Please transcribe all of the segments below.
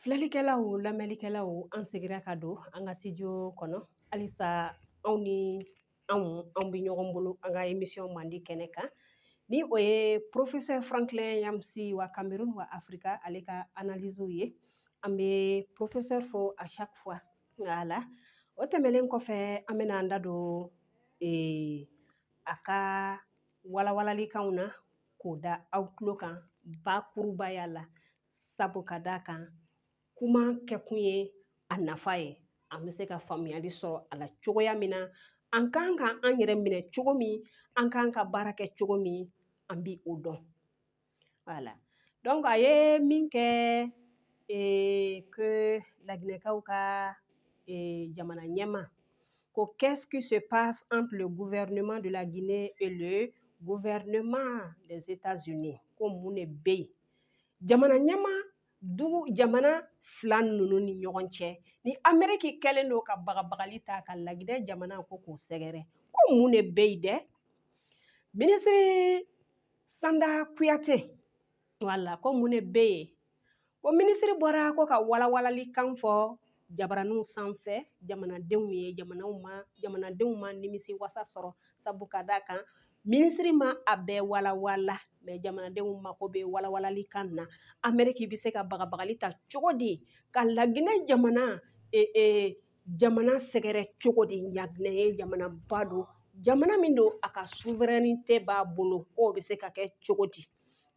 Filɛlikɛlaw lamɛnlikɛlaw an seginna ka don an ka studio kɔnɔ halisa aw ni anw anw bɛ ɲɔgɔn bolo an ka émission mandi kɛnɛ kan ni o ye professeur Franklin Nyamsi wa Kamerun wa Afrika ale ka analyse ye an bɛ professeur fo à chaque fois voilà o tɛmɛnen kɔfɛ an bɛna an da don ee, a ka walawalalikanw na k'o da aw tulo kan bakurubaya la sabu ka d'a kan kuma kɛkun ye a nafa ye an bɛ se ka faamuyali sɔrɔ a la cogoya min na an kan ka an yɛrɛ minɛ cogo min an kan ka baara kɛ cogo min an bi o dɔn voilà donc a ye min kɛ que laginɛkaw ka jamana ɲɛmaa ko qu'est-ce qui se passe entre le gouvernement de la Guinée et le gouvernement des États-Unis ko mun de bɛ yen jamana ɲɛmaa dugu jamana fila ninnu ni ɲɔgɔn cɛ ni ameriki kɛlen don ka bagabagali ta ka laginɛ jamana ko k'o sɛgɛrɛ ko mun de bɛ yen dɛ minisiri sanda kuyate voilà ko mun de bɛ yen ko minisiri bɔra ko ka walawalali kan fɔ jabaraninw sanfɛ jamanadenw ye jamanadenw ma nimisi wasa sɔrɔ sabu ka d'a kan minisiri ma a bɛɛ walawala mais jamanadenw mako bɛ walawalali kan na ameriki bɛ se ka bagabagali ta cogo di ka laginɛ jamana e, e, jamana sɛgɛrɛ cogo di laginɛ ye jamanaba don jamana min don a ka souveraineté b'a bolo k'o bɛ se ka kɛ cogo di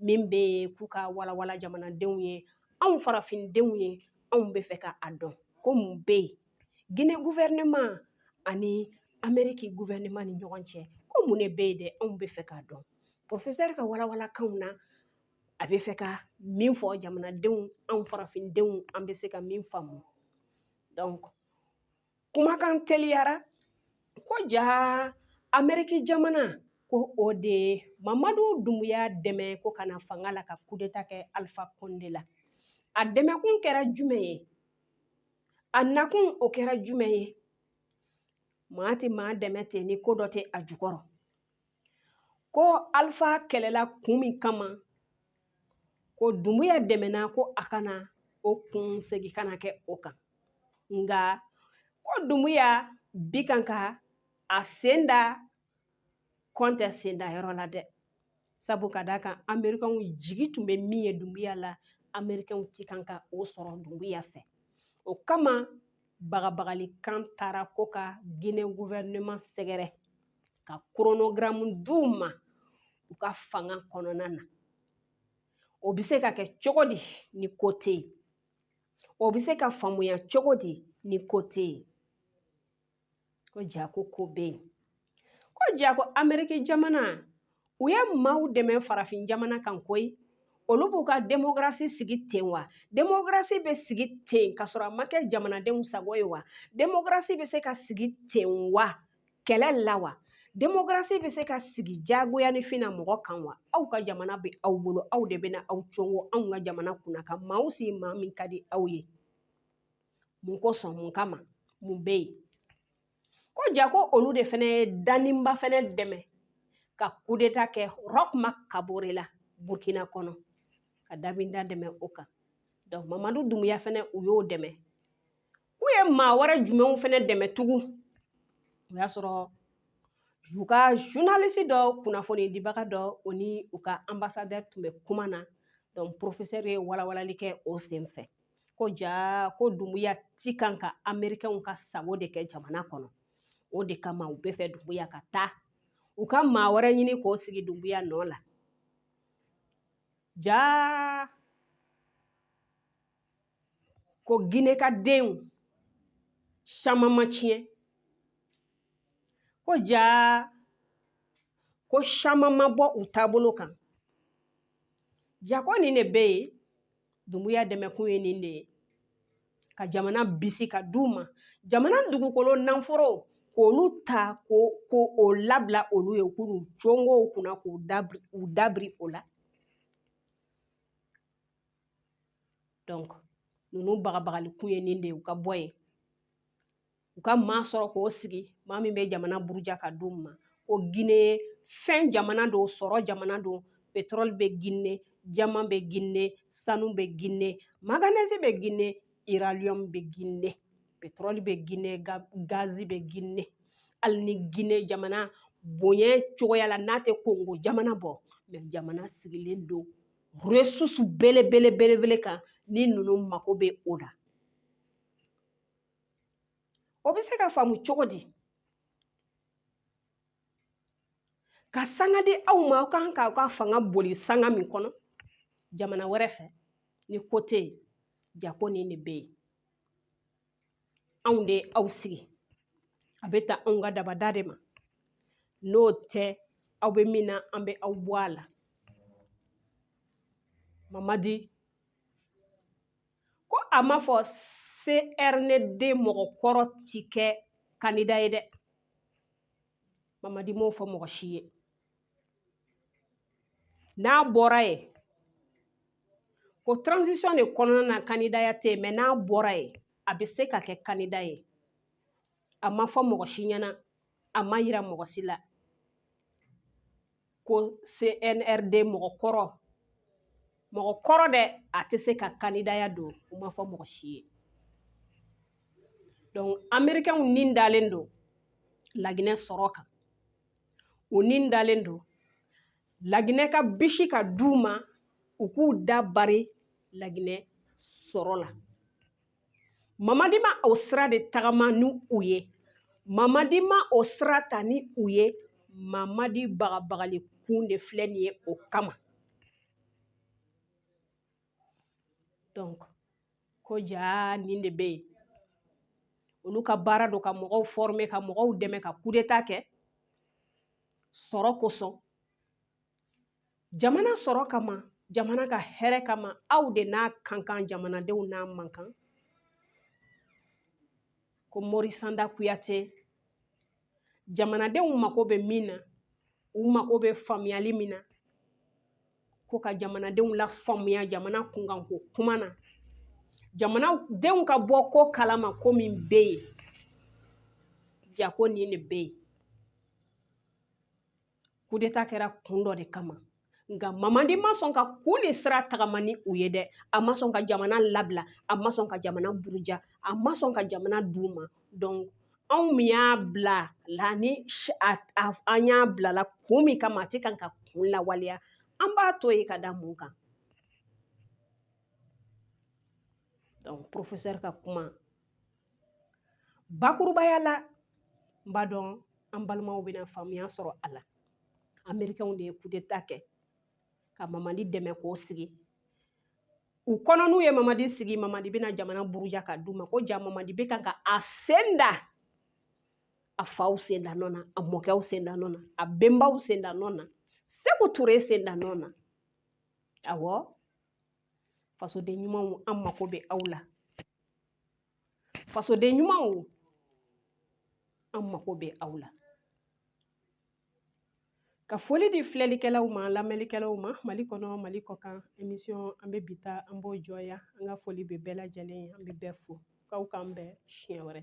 min bɛ k'u k'a walawala jamanadenw ye anw farafindenw ye anw bɛ fɛ ka a dɔn ko mun bɛ yen Guinée gouvernement ani ameriki gouvernement ni ɲɔgɔn cɛ ko mun de bɛ yen dɛ anw bɛ fɛ k'a dɔn professeur ka walawalakanw na a bɛ fɛ ka min fɔ jamanadenw anw farafindenw an bɛ se ka min faamu donc kumakan teliyara ko jaa ameriki jamana ko o de ye mamadu dunbuya dɛmɛ ko ka na fanga la ka kudeta kɛ alifa konde la a dɛmɛkun kɛra jumɛn ye a nakun o kɛra jumɛn ye maa tɛ maa dɛmɛ ten ni ko dɔ tɛ a jukɔrɔ ko alifa kɛlɛla kun min kama ko dumbuya dɛmɛna ko a kana o kun segin kana kɛ o kan nka ko dumbuya bi kan ka a sen da konde senda yɔrɔ la dɛ sabu ka d'a kan amerikanw jigi tun bɛ min ye dumbuya la amerikanw ti kan ka o sɔrɔ dumbuya fɛ o kama bagabagalikan taara ko ka Guinée gouvernement sɛgɛrɛ ka koronogaramu d'u ma u ka fanga kɔnɔna na o bɛ se ka kɛ cogo di ni ko tɛ yen o bɛ se ka faamuya cogo di ni ko tɛ yen ko ja ko ko bɛ yen ko ja ko ameriki jamana u ye maaw dɛmɛ farafin jamana kan koyi olu b'u ka demokarasi sigi ten wa demokarasi bɛ sigi ten ka sɔrɔ a ma kɛ jamanadenw sago ye wa demokarasi bɛ se ka sigi ten wa kɛlɛ la wa demokarasi bɛ se ka sigi jagoyanifin na mɔgɔ kan wa aw ka jamana bɛ aw bolo aw de bɛ na aw congo anw ka jamana kunna ka maaw sigi maa min ka di aw ye mun kosɔn mun kama mun bɛ yen ko ja ko olu de fana ye damiba fana dɛmɛ ka kudeta kɛ Roch Marc kabore la burkina kɔnɔ ka damiba dɛmɛ o kan donc mamadu dunbuya fana u y'o dɛmɛ k'u ye maa wɛrɛ jumɛnw fana dɛmɛ tugun o y'a sɔrɔ u ka journaliste dɔ kunnafoni dibaga dɔ o ni u ka ambassadeur tun bɛ kuma na donc professeur ye walawalali kɛ o senfɛ ko ja ko dunbuya ti kan ka amerikɛnw ka sago de kɛ jamana kɔnɔ o de kama u bɛ fɛ dunbuya ka taa u ka maa wɛrɛ ɲini k'o sigi dunbuya nɔ la ja ko gine ka denw caman ma tiɲɛ ko ja ko caman ma bɔ u taabolo kan ja ko nin de bɛ yen Dunbuya dɛmɛkun ye nin de ye ka jamana bisi ka d'u ma jamana dugukolo nanforo k'olu ta k'o labila olu ye k'u congo u kunna k'u dabiri u dabiri o la donc ninnu bagabagalikun ye nin de ye u ka bɔ yen u ka maa sɔrɔ k'o sigi maa min bɛ jamana buruja ka d'u ma ko gine fɛn jamana don sɔrɔ jamana don petrɔli bɛ gine jaman bɛ gine sanu bɛ gine maganɛzi bɛ gine iraniyɔm bɛ gine petrɔli bɛ gine gazi bɛ gine hali ni gine jamana bonya cogoya la n'a tɛ kongo jamana bɔ mɛ jamana sigilen don resurusi belebele belebele kan ni ninnu mako bɛ o la o bɛ se ka faamu cogo di ka sanga di aw ma aw kan k'aw ka fanga boli sanga min kɔnɔ jamana wɛrɛ fɛ ni ko tɛ yen ja ko nin de bɛ yen anw de ye aw sigi a bɛ taa anw ka dabada de ma n'o tɛ aw bɛ min na an bɛ aw bɔ a la mamadi ko a ma fɔ CRND mɔgɔ kɔrɔ ti kɛ kandida ye dɛ mamadi m'o fɔ mɔgɔ si ye n'a bɔra ye ko transition de kɔnɔna na kandidaya tɛ yen mais n'a bɔra ye a bɛ se ka kɛ kandida ye a ma fɔ mɔgɔ si ɲɛna a ma yira mɔgɔ si la ko CNRD mɔgɔ kɔrɔ mɔgɔ kɔrɔ dɛ a tɛ se ka kandidaya don u m'a fɔ mɔgɔ si ye donc amerikɛnw ni dalen don laginɛ sɔrɔ kan u ni dalen don laginɛ ka bisi ka d'u ma u k'u da bari laginɛ sɔrɔ la mamadi ma o sira de tagama ni u ye mamadi ma o sira ta ni u ye mamadi bagabagali kun de filɛ nin ye o kama donc ko jaa nin de bɛ yen olu ka baara don ka mɔgɔw former ka mɔgɔw dɛmɛ ka kudeta kɛ sɔrɔ kosɔn jamana sɔrɔ kama jamana ka hɛrɛ kama aw de n'a ka kan jamanadenw n'a man kan ko morisanda kuyate jamanadenw mako bɛ min na u mako bɛ faamuyali min na ko ka jamanadenw lafaamuya jamana kunkanko kuma na jamanadenw ka bɔ ko kalama ko min bɛ yen jaa ko nin de bɛ yen kudeta kɛra kun dɔ de kama nka mamadi ma sɔn ka kun nin sira tagama ni u ye dɛ a ma sɔn ka jamana labila a ma sɔn ka jamana buruja a ma sɔn ka jamana d'u ma donc anw min y'a bila la ni an y'a bila la kun min kama a tɛ kan ka kun lawaleya an b'a to yen ka da mun kan donc professeur ka kuma bakurubaya la n b'a dɔn an balimaw bɛna faamuya sɔrɔ a la amerikɛnw de ye kudeta kɛ ka mamadi dɛmɛ k'o sigi u kɔnɔ n'u ye mamadi sigi mamadi bɛna jamana buruja ka d'u ma ko jaa mamadi bɛ kan ka a sen da a faw sen da nɔ na a mɔkɛw sen da nɔ na a bɛnbaw sen da nɔ na seku ture sen da nɔ na awɔ fasoden ɲumanw an mako bɛ aw la fasoden ɲumanw an mako bɛ aw la ka foli di filɛlikɛlaw ma lamɛnlikɛlaw ma mali kɔnɔ mali kɔkan emisiyɔn an bɛ bi ta an b'o jɔ yan an ka foli bɛ bɛɛ lajɛlen ye an bɛ bɛɛ fo k'aw k'an bɛn siɲɛ wɛrɛ